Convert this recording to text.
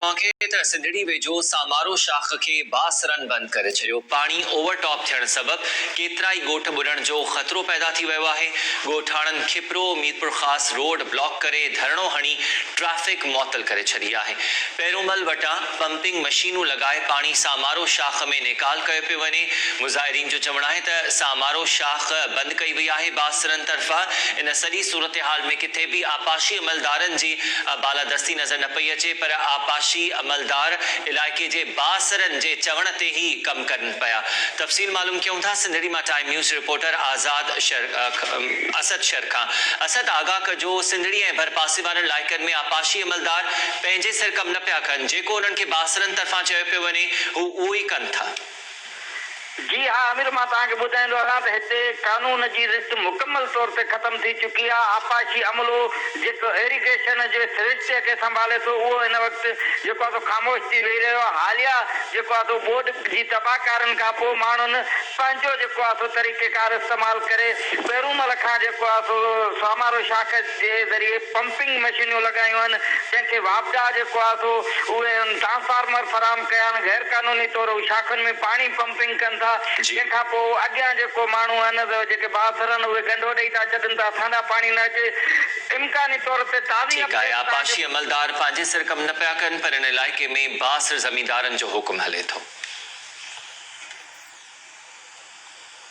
پنکي تڙ سنڌڙي ويجهو سامارو شاخ کي بااثرن بند ڪري ڇڏيو. پاڻي اوور ٽاپ ٿيڻ سبب ڪيترائي ڳوٺ ٻڏڻ جو خطرو پيدا ٿي ويو آهي، ڳوٺاڻن کپرو ميرپورخاص روڊ بلاڪ ڪري ڌرڻو هڻي ٽريفڪ معطل ڪري ڇڏي آهي، پيرومل وٽان پمپنگ مشينون لڳائي پاڻي سامارو شاخ ۾ نيڪال ڪيو پيو وڃي، مظاهرين جو چوڻ آهي ته سامارو شاخ بند ڪئي وئي آهي بااثرن طرفان ان سڄي صورتحال ۾ ڪٿي به آبپاشي عملدارن جي بالادستي نظر نه پئي اچي پر آبپاشي عملدار علائقي جي بااثرن جي چوڻ تي ئي ڪم ڪن پيا. تفصيل معلوم ڪيون ٿا سنڌڙي مان time news reporter Azad Shar Asad شر کان. اسد آگاهه ڪجو سنڌڙي ۽ ڀرپاسي وارن علائقن ۾ آبپاشي عملدار پنهنجي سر ڪم نه پيا ڪن جيڪو انهن کي بااثرن طرفان چيو پيو وڃي هو اهو ئي ڪن ٿا. جي ها آمر مان توهان کي ٻڌائيندو هلان ته هتي قانون جي رٿ مڪمل طور تي ختم ٿي چڪي آهي آپاشي عملو جيڪو ايريگيشن جي سرشتي کي سنڀالي ٿو اهو هن وقت جيڪو آهي سو خاموش ٿي ويهي رهيو آهي حاليا جيڪو آهي سو ٻوڏ جي تباهه ڪارين کان پوء ماڻهن پنهنجو جيڪو آهي سو طريقيڪار استعمال ڪري پهرون مهل کان جيڪو آهي سو سامارو شاخ جي ذريعي پمپنگ مشينيون لڳايون آهن جنهن کي واپڊا جيڪو آهي سو اهي ان ٽرانسفارمر فراهم ڪيا آهن غير قانوني طور هو شاخن ۾ پاڻي پمپنگ ڪن ٿا جي. جنهن کان پوء اڳيان جيڪو ماڻهو آهن سو جيڪي بااثر آهن اهي ڳنڍو ڏئي ٿا ڇڏن ته اسان ڏانهن پاڻي نه اچي امڪاني طور تي تازي ٺيڪ آهي اپڊيٽ سان آبپاشي عملدار پنهنجي سر ڪم نه پيا ڪن پر ان علائقي ۾ بااثر زميندارن جو حڪم هلي ٿو.